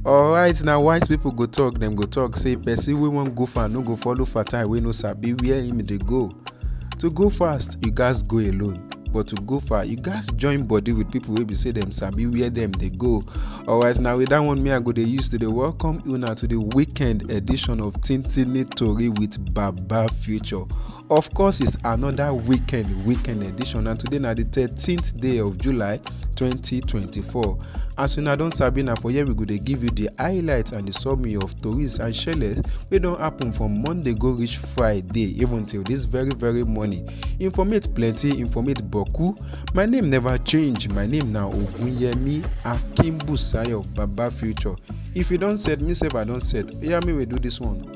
alright na wise people go talk dem go talk say person wey wan go far no go follow fatai wey no sabi where him dey go to go fast you gats go alone but to go far you gats join body with people wey be say dem sabi where dem dey go alright na with that one me i go dey use to dey welcome una to the weekend edition of tintini tori with baba future Of course, it's another weekend, weekend edition, and today na the 13th day of July 2024. As una don sabi na for here we go dey give you the highlights and the summary of tories and shele wey don happen from Monday go reach Friday, even till this very very morning. Informate plenty, informate boku. My name never change. My name na Ogunyemi Akimbusayo Baba Future. If you don set, me sef I don set. Oya, me we do this one.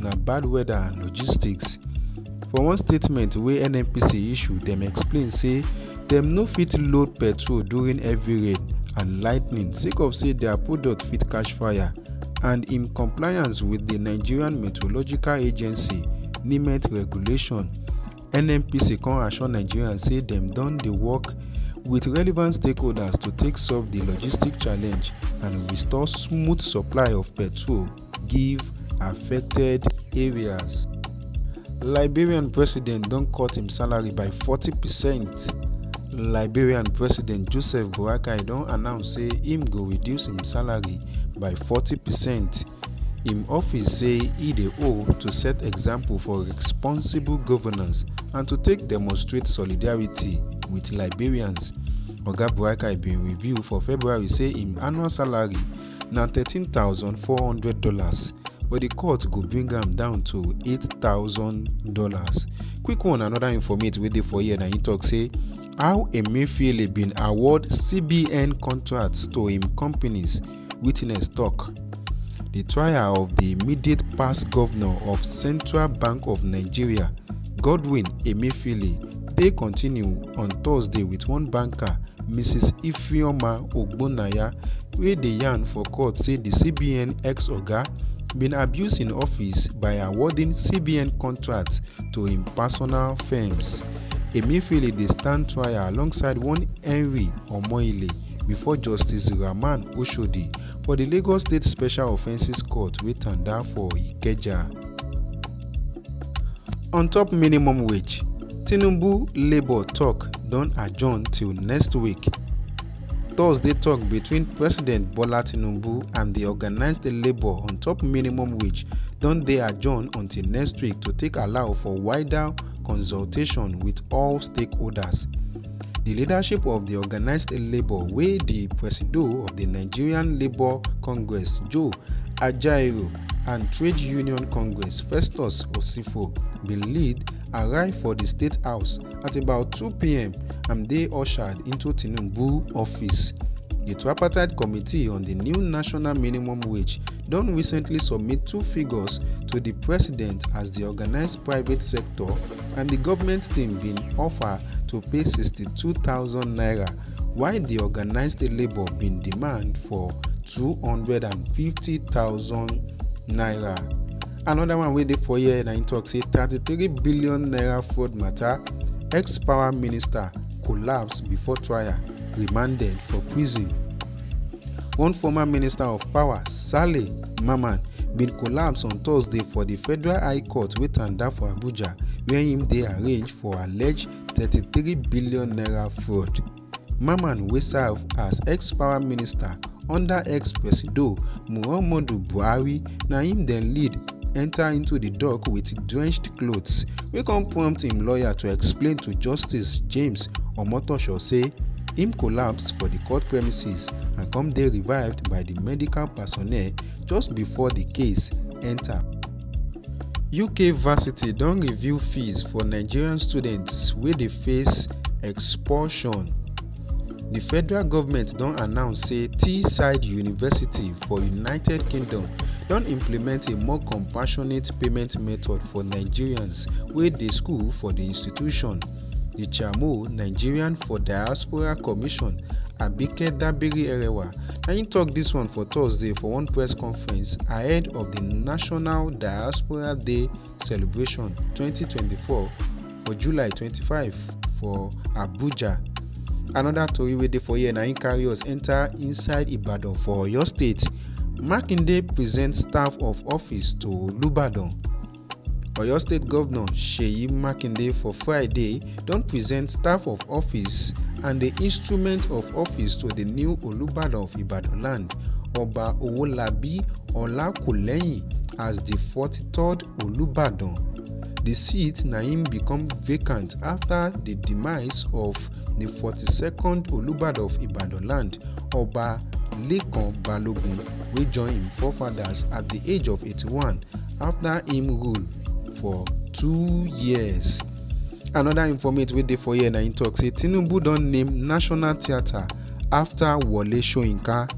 na bad weather and logistics. For one statement wey NNPC issue, dem explain say dem no fit load petrol during heavy rain and lightning sake of say dia product fit catch fire and in compliance wit di Nigerian Meteorological Agency (NIMET) regulation. NNPC come assure Nigerians say dem don dey work wit relevant stakeholders to take solve di logistic challenge and restore smooth supply of petrol. give affected areas. Liberian president don cut im salary by 40 percent. Liberian president Joseph Boakai don announce say im go reduce im salary by 40 percent. Im office say e dey owe to set example for responsible governance and to take demonstrate solidarity with Liberians. Oga Boakai bin reveal for February say im annual salary na thirteen thousand four hundred dollars but di court go bring am down to eight thousand dollars quick one another informate wey dey for here na im tok say how emefiele bin award cbn contracts to im companies witness tok di trial of di immediate past govnor of central bank of nigeria godwin emefiele dey continue on thursday wit one banker mrs ifeoma ogbonnaya wey dey yarn for court say di cbn ex-oga bin abuse im office by awarding cbn contracts to im personal firms. emefiele dey stand trial alongside one henry omohile before justice rahman oshodi for di lagos state special offences court wey tanda for ikeja. On top minimum wage, Tinubu Labour talk don adjourn till next week. Thursday talk between President Bola Tinubu and the organised labour on top minimum wage don dey adjourn until next week to take allow for wider consultation with all stakeholders. The leadership of the organised labour wey the presido of the Nigerian Labour Congress Joe Ajaero and Trade Union Congress Festus Osifo bin lead arrive for di State House at about 2pm and dey ushered into Tinubu office. Di tripartite committee on di new national minimum wage don recently submit two figures to di president as di organised private sector and di government team bin offer to pay 62 thousand naira while di organised labour bin demand for two hundred and fifty thousand naira another one wey dey for here na im tok say thirty three billion naira fraud mata ex power minister collapse before trial remanded for prison one former minister of power saleh mamman bin collapse on thursday for di federal high court wey tanda for abuja wia im dey arraigned for alleged 33 billion naira fraud. Mamman wey serve as ex-power minister under ex-presido Muhammadu Buhari na im dem lead enter into di dock wit drenched clothes wey come prompt im lawyer to explain to Justice James Omotosho say im collapse for di court premises and come dey revived by di medical personnel just before di case enter uk varsity don review fees for nigerian students wey dey face expulsion di federal goment don announce say teesside university for united kingdom don implement a more compassionate payment method for nigerians wey dey school for di institution. The Chairmo, Nigerian for Diaspora Commission, Abike Dabiri Erewa, na im tok dis one for Thursday for one press conference ahead of di National Diaspora Day celebration 2024 for July 25 for Abuja. Anoda tori wey dey for here na im carry us enta inside Ibadan for Oyo State. Makinde present staff of office to Olubadan. Oyo State Governor Seyi Makinde for Friday don present staff of office and the instrument of office to the new Olubadan of Ibadan land, Oba Owolabi Olakuleyin as the 43rd Olubadan. The seat na im become vacant after the demise of the 42nd Olubadan of Ibadan land, Oba Lekan Balogun wey join im forefathers at the age of 81 afta im rule for two years. anoda informate wey dey for here na im tok say tinubu don name national theatre afta wole soyinka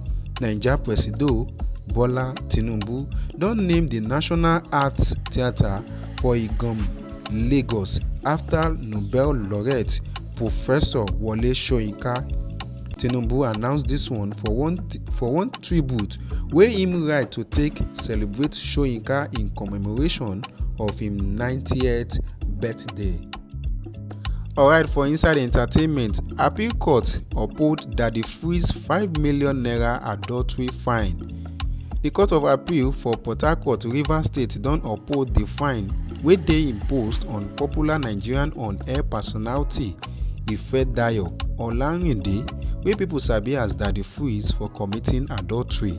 naija presido bola tinubu don name di national arts theatre for igom lagos afta nobel laureate professor wole soyinka tinubu announce dis one for one for one tribute wey im write to take celebrate soyinka in commemoration of im 90th birthday. alright for inside entertainment appeal court uphold daddy freeze five million naira adultery fine di court of appeal for port harcourt rivers state don uphold di fine wey dey imposed on popular nigerian on-air personality ifedayo olarinde wey pipo sabi as daddy freeze for committing adultery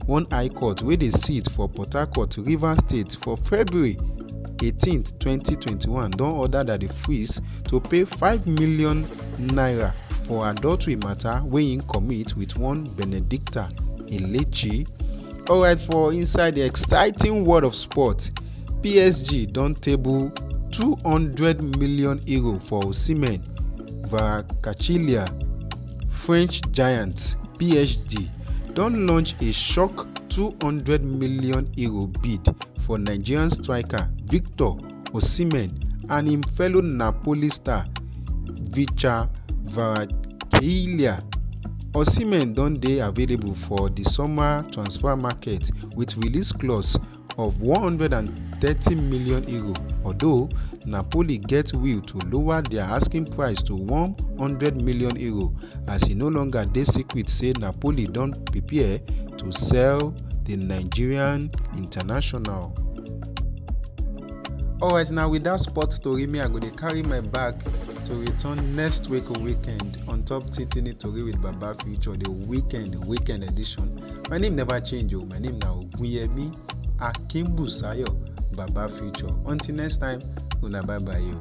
one high court wey dey sit for port harcourt rivers state for february 18 2021 don order daddy freeze to pay five million naira for adultery mata wey im commit wit one benedicta elechi alright for inside di exciting world of sport psg don table €200m for osimhen kvaratskhelia french giants psg don launch a shock €200m bid for nigerian striker victor osimhen and im fellow napoli star vicha kvaratskhelia. osimhen don dey available for di summer transfer market wit release clause of 130 million euro although napoli get will to lower dia asking price to 100 million euro as e no longer dey secret say napoli don prepare to sell di nigerian international. alright na wit dat sport tori me i go dey carry my bag to return next week weekend on top titini tori with baba future the weekend weekend edition my name never change o my name na ogunyemi akimbusayo baba future until next time una bye bye o.